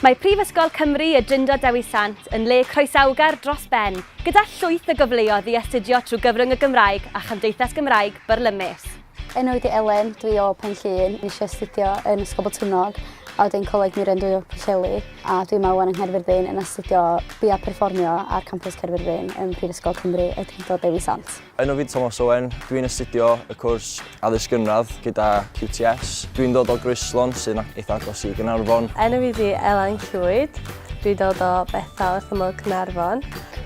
Mae Prifysgol Cymru y Drindod Dewi Sant yn le croesawgar dros ben, gyda llwyth o gyfleoedd i astudio trwy gyfrwng y Gymraeg a Chymdeithas Gymraeg Byrlymus. Enw i di Elen, dwi o Pen Llŷn, nes i astudio yn Ysgol Botwnnog a wedyn Coleg Meirion-dwy-o Pwllheli a dwi yma wan yng Nghaerfyrddin yn astudio Bia Perfformio ar Campws Caerfyrddin ym Mhrifysgol Cymru y Drindod Dewi Sant. Enw fi yw Tomos Owen, dwi'n astudio y cwrs addysg gynradd gyda QTS. Dwi'n dod o Groeslon sy'n eitha agos i Gaernarfon. Enw fi yw Elan Llwyd, dwi'n dod o Bethel wrth ymyl Caernarfon.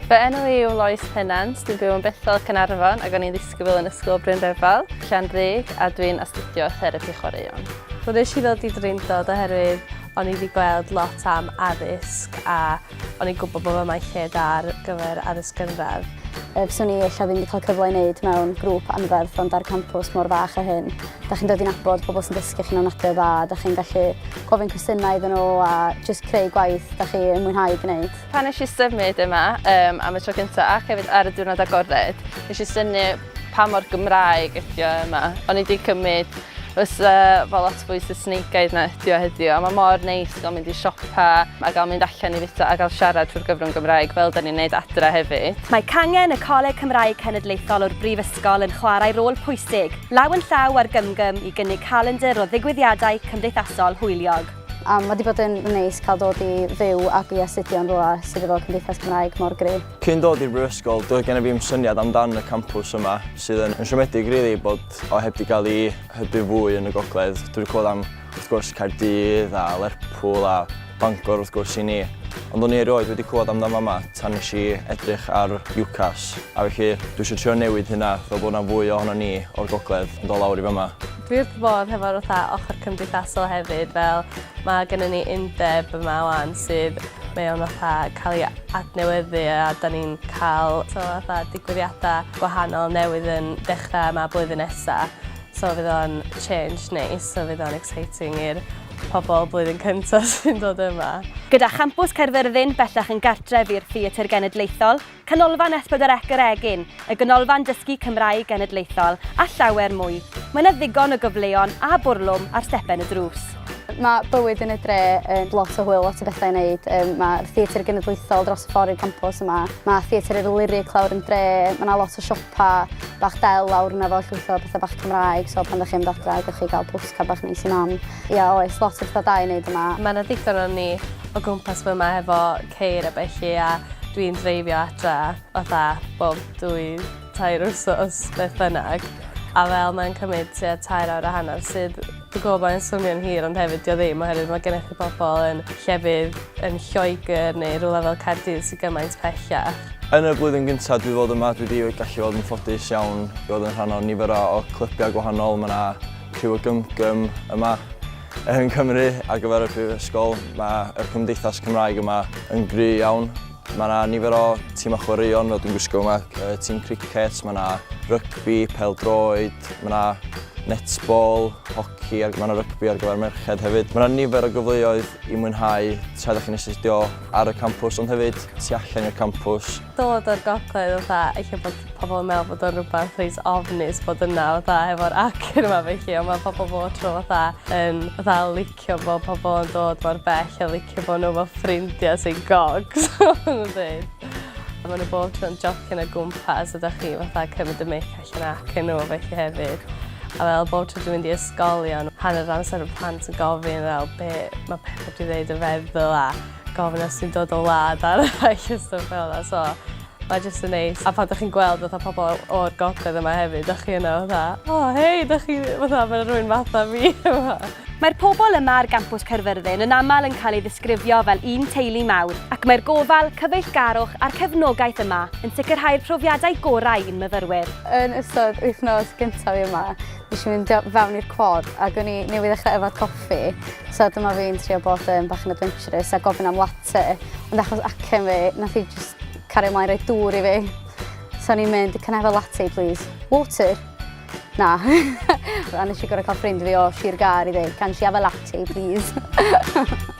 Fy enw i yw Lois Pennant, dwi'n byw yn Bethel Caernarfon ac o'n i'n ddisgybl yn Ysgol Bryn Rhyfel, Llanrug a dwi'n astudio therapi chwaraeon. Wel nes i ddod i Drindod oherwydd o'n i wedi gweld lot am addysg a O'n i'n gwybod bod fe mae'n lle da ar gyfer addysg gynradd. Yy, fyswn i ella ddim wedi cael cyfle i wneud mewn grŵp anferth ond ar campws mor fach a hyn. Da chi'n dod i'n abod pobl sy'n dysgu chi'n ofnadwy dda, da chi'n gallu gofyn cwestiynau iddyn nhw a jyst creu gwaith da chi yn mwynhau gwneud. Pan nes i symud yma um, am y tro cyntaf ac hefyd ar y diwrnod agored, nes i syni Pa mor Gymraeg ydi o Emma? O'n i 'di cymryd fysa fo lot fwy Saesnigaidd na ydi o heddiw a mae mor neis gael mynd i siopa a gael mynd allan i fwyta a gael siarad trwy'r gyfrwng Gymraeg fel da ni'n neud adre hefyd. Mae cangen y Coleg Cymraeg Cenedlaethol o'r Brifysgol yn chwarae rôl pwysig, law yn llaw â'r Gymgym i gynnig calendr o ddigwyddiadau cymdeithasol hwyliog. A mae 'di bod yn neis cael dod i fyw ac i astudio'n rywle sydd efo Cymdeithas Cymraeg mor gryf. Cyn dod i'r Brifysgol, doedd gennyf i'm syniad amdan y campws yma, sydd yn yn siomedig rili bod o heb di gael ei hybu fwy yn y gogledd. Dwi wedi clywed am, wrth gwrs, Caerdydd a Lerpwl a Bangor wrth gwrs i ni, ond o'n i erioed wedi clywed amdan fama tan nes i edrych ar UCAS, a felly dwi eisiau trio newid hynna fel bod yna fwy ohonon ni o'r gogledd yn dod lawr i fama. Dwi wrth fy fodd hefo'r fatha ochr cymdeithasol hefyd fel mae gennym ni undeb yma 'wan sydd Mae o'n fatha cael ei adnewyddu a 'dan ni'n cael t'o' fatha digwyddiada' gwahanol newydd yn dechra' yma blwyddyn nesa'. So fydd o'n change neis so fydd o'n exciting i'r pobol blwyddyn cynta' sy'n dod yma. Gyda Champws Caerfyrddin bellach yn gartref i'r Theatr Genedlaethol, Canolfan Esbydderec yr Egin, y Ganolfan Dysgu Cymraeg Genedlaethol a llawer mwy. Mae 'na ddigon o gyfleon a bwrlwm ar stepen y drws. Mae bywyd yn y dre yn lot o hwyl, lot o bethau i wneud. Yym mae'r Theatr Genedlaethol dros y ffordd i'r campws yma. Mae Theatr yr Lyric lawr yn dre, mae 'na lot o siopa bach del lawr yna efo llwyth o bethau bach Cymraeg, so pan dach chi'n mynd adra gewch chi gael postcard bach neis i Mam. Ia oes, lot o bethau da i wneud yma. Mae 'na ddigon o ni o gwmpas fy yma efo ceir a bellu a dwi'n dreifio adre fatha bob dwy tair wsos beth bynnag a fel mae'n cymryd tua tair awr a hanner sydd dwi'n gwybod mae'n swnio'n hir ond hefyd dydi o ddim oherwydd mae gennych chi pobl yn llefydd yn Lloegr neu rhywle fel Caerdydd sydd gymaint pellach. Yn y flwyddyn gyntaf dwi fod yma dwi wedi gallu fod yn ffodus iawn i fod yn rhan o nifer o clybiau gwahanol, mae yna rhyw o gymgym yma Yng Nghymru, ar gyfer y Brifysgol, mae yr Cymdeithas Cymraeg yma yn gry iawn. Mae yna nifer o timau chwaraeon fel dwi'n gwisgo yma, tîm cricet, mae yna rygbi, pêl-droed, mae yna netball, hoci, mae yna rygbi ar gyfer merched hefyd. Mae yna nifer o gyfleoedd i mwynhau tra dych chi'n astudio ar y campws ond hefyd tu allan i'r campws. dod o'r gogledd fatha ella bod pobl yn meddwl bod o'n rhywbeth reit ofnus bod yna fatha hefo'r acen yma felly ond mae pobl bob tro fatha yn fatha licio fo pobl yn dod mor bell a licio fo nhw efo ffrindiau sy'n gogs oedden nhw'n dweud. A maen nhw bob tro'n jocian o gwmpas a da chi fatha cymryd y mic allan acen nhw felly hefyd. A fel bob tro dwi'n mynd i ysgolion hanner amser y plant yn gofyn fel be mae pethau dwi'n dweud yn feddwl a gofynnau sy'n dod o wlad ar y ffaith a stwff fel yna, so mae jyst yn neis. A pan dych chi'n gweld fatha pobl o'r gogledd yma hefyd, dych chi yna fatha, o oh, hei, dych chi, fatha, mae rhywun fatha fi yma. Mae'r pobl yma ar gampws Caerfyrddin yn aml yn cael ei ddisgrifio fel un teulu mawr, ac mae'r gofal, cyfeillgarwch a'r cefnogaeth yma yn sicrhau'r profiadau gorau i'n myfyrwyr. Yn ystod wythnos gyntaf yma, Nes i fynd i fewn i'r cwad ac o'n i newydd ddechrau yfed coffi, so dyma fi'n trio bod yn bach yn adventurous a gofyn am latte, ond achos acen fi, nath i just cario ymlaen rhoi dŵr i fi. So o'n i'n mynd, can I have a latte please? Water? Na. a nes i gorau cael ffrind fi o Sir Gar i ddweud, can she have a latte please?